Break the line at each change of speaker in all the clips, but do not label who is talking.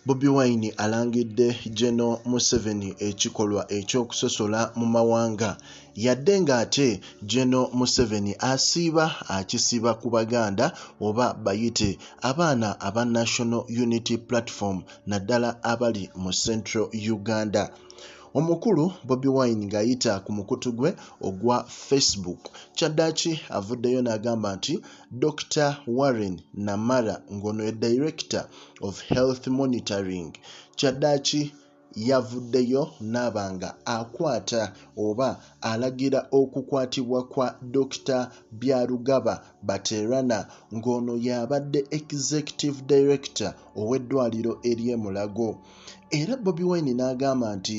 Bobi Wine alangidde Geno Museveni ekikolwa eky'okusosola mu mawanga yadde ng'ate Geno Museveni asiiba akisiba ku Baganda oba bayite abaana aba National Unity Platform naddala abali mu Central Uganda. Omukulu Bobi Wine ng'ayita ku mukutu gwe ogwa Facebook kyaddaaki avuddeyo n'agamba nti Dokita Warren Namara ng'ono ye Director of Health Monitoring kyaddaaki yavuddeyo n'aba nga akwata oba alagira okukwatibwa kwa Dokita Byarugaba Baterana ng'ono y'abadde Executive Director ow'eddwaaliro ery'e Mulago era Bobi Wine n'agamba nti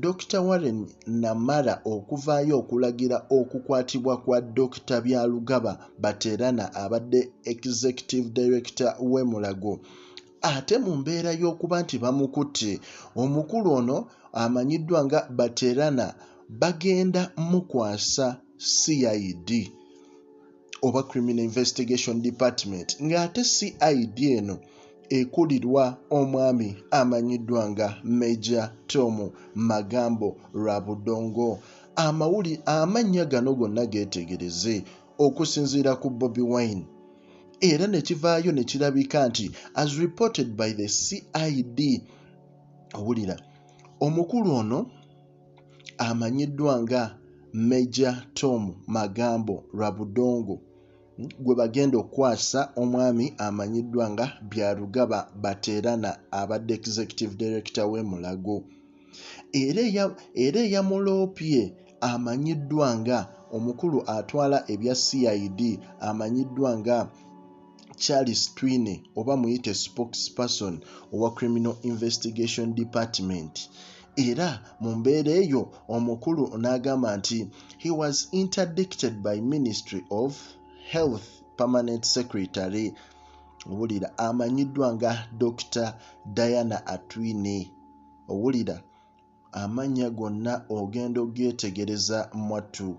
Dokita Warren Namara okuvaayo okulagira okukwatibwa kwa Dokita Byarugaba Baterana abadde Executive Director w'e Mulago ate mu mbeera y'okuba nti bamukutte, omukulu ono amanyiddwa nga Baterana bagenda mukwasa CID. oba criminal investigation department ng'ate cid eno ekulirwa omwami amanyiddwa nga meja tom magambo lwa budongo amawuli amannya gano gonna geetegereze okusinziira ku bobi wine era ne kivaayo ne kirabika nti as reported by the cid owulira omukulu ono amanyiddwa nga Major Tom Magambo Rwabudongo hmm, gwe bagenda okukwasa omwami amanyiddwa nga Byarugaba Baterana abadde Executive Director w'e Mulago era eyamuloopye amanyiddwa nga omukulu atwala ebya CID amanyiddwa nga Charles Twine oba muyite spokesperson owa Criminal Investigation Department era mu mbeera eyo omukulu n'agamba nti he was interdicted by ministry of health permanent secretary owulira amanyiddwa nga dr diana atwine owulira amannya gonna ogenda ogeetegereza mwattu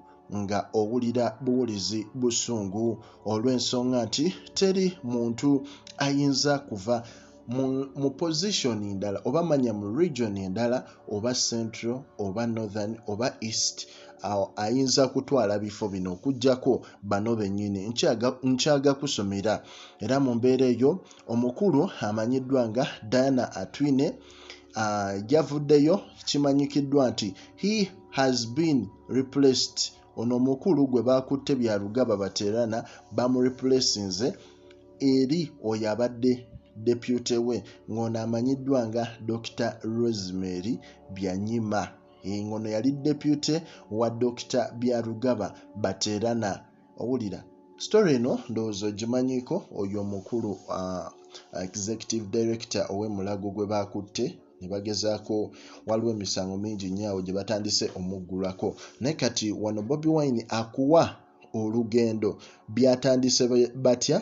nga owulira buwulizi busungu olw'ensonga nti teri muntu ayinza kuva mu, mu position endala oba manya mu region endala oba central oba northern oba east awo ayinza kutwala bifo bino okujjako bano bennyini nkyaga kusomera era mu mbeera eyo omukulu amanyiddwa nga diana atwine yavuddeyo uh, kimanyikiddwa nti he has been replaced ono omukulu gwe baakutte bya lugaba baterana bamurepulesinze eri oyo abadde depute we ng'ono amanyiddwa nga dr rosemary byanyima ng'ono yali depute wa dr byarugaba baterana owulira story eno ndowooza ogimanyiko oyo omukulu uh, executive director ow'emulago gwe baakutte ne bagezaako waliwo emisango mingi nnyo awo gye batandise omuggulako naye kati wano bobi wine akuwa olugendo byatandise batya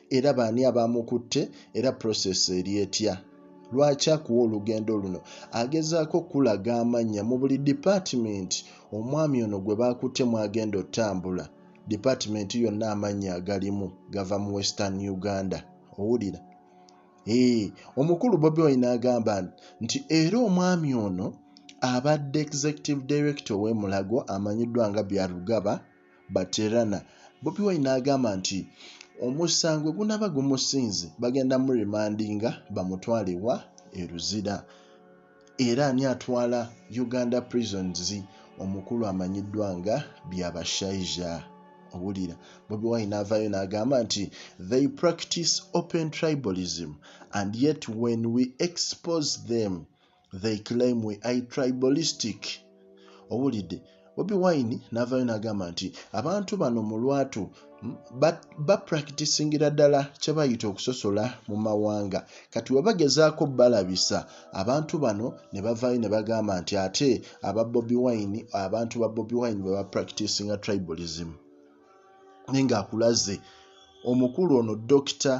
era baani abaamukutte era process eri etya lwaki akuwa olugendo luno agezaako okukulaga amannya mu buli dipaatimenti omwami ono gwe baakutte mwagenda otambula dipaatimenti yonna amannya agalimu gava mu western uganda owulira Hey, eh, omukulu bobi wine agamba nti era omwami ono abadde executive director owemulago amanyiddwa nga byarugaba baterana bobi wine agamba nti omusango gunaba gumusinze bagenda mu remandinga bamutwale wa eruzira Era ani atwala Uganda Prisons omukulu amanyiddwa nga Byabashaija. Owulira Bobi Wine n'avaayo n'agamba nti they practice open tribalism and yet when we expose them they claim we are tribalistic. owulidde bobi wine navayo nagamba nti abantu bano mu lwatu bapractisingira ba ddala kyebayita okusosola mu mawanga kati webagezaako balabisa abantu bano ne bavayo ne bagamba nti ate aba bobi wine abantu ba bobi wine bebapractisinga tribalism naye ngaakulaze omukulu ono dokita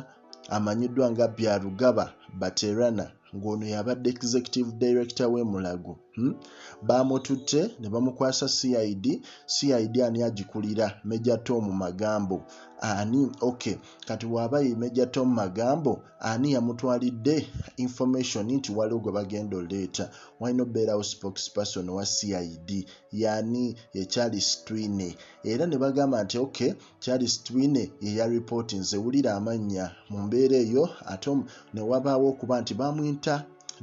amanyiddwa nga byarugaba baterana ng'ono yabadde executive director w'e mulago hmm? baamututte ne bamukwasa cid cid ani agikulira meja tom magambo ani ok kati waaba ye meja tom magambo ani yamutwalidde information nti waliwo gwe bagenda oleeta walina obeerawo spokesperson wa cid yani ye charles twine era ne bagamba nti ok Charles Twine ye ya ripooti nze wulira amannya mu mbeera eyo ate ne wabaawo okuba nti baamwinta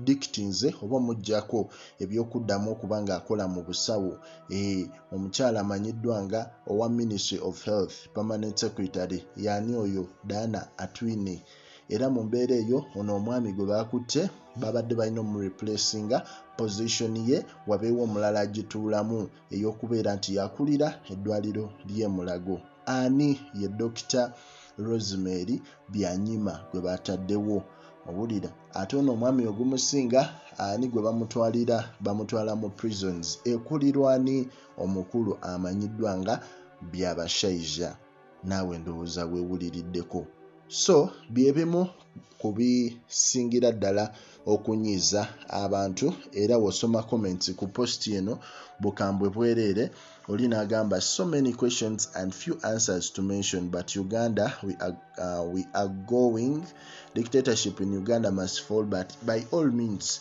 dikiti nze oba omuggyako eby'okuddamu okuba ng'akola mu busawo ee omukyala amanyiddwa nga owa ministry of health permanent secretary yaani oyo Diana Atwine era mu mbeera eyo ono omwami gwe baakutte babadde balina omureplacinga position ye wabeewo omulala agituulamu ey'okubeera nti yakulira eddwaliro ly'e Mulago. Ani ye Dokita Rosemary Byanyima gwe baataddewo? Owulira ate ono omwami ogumusinga ani gwe bamutwalira bamutwala mu prisons ekulirwani omukulu amanyiddwa nga Byabashaija. naawe ndowooza wewuliriddeko so byebimu ku bisingira ddala okunyiiza abantu era wosoma comments ku post eno bukambwe bwereere oli nagamba so many questions and few answers to mention but uganda we are, uh, we are going dictatorship in uganda must fall but by all means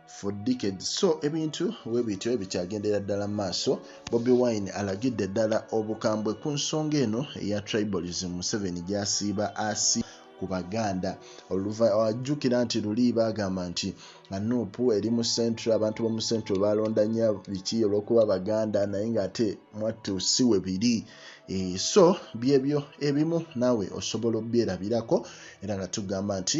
for decades so ebintu webityo ebikyagendera ddala mu maaso bobi wine alagidde ddala obukambwe ku nsonga eno eya tribalism museveni gyasiiba asi ku baganda oluvajjukira nti luli bagamba nti nup eri mu centro abantu bomu centro balonda nya biki olwokuba baganda naye ngaate mwattu si we biri Eh, so byebyo ebimu naawe osobola obyerabirako era nga tugamba nti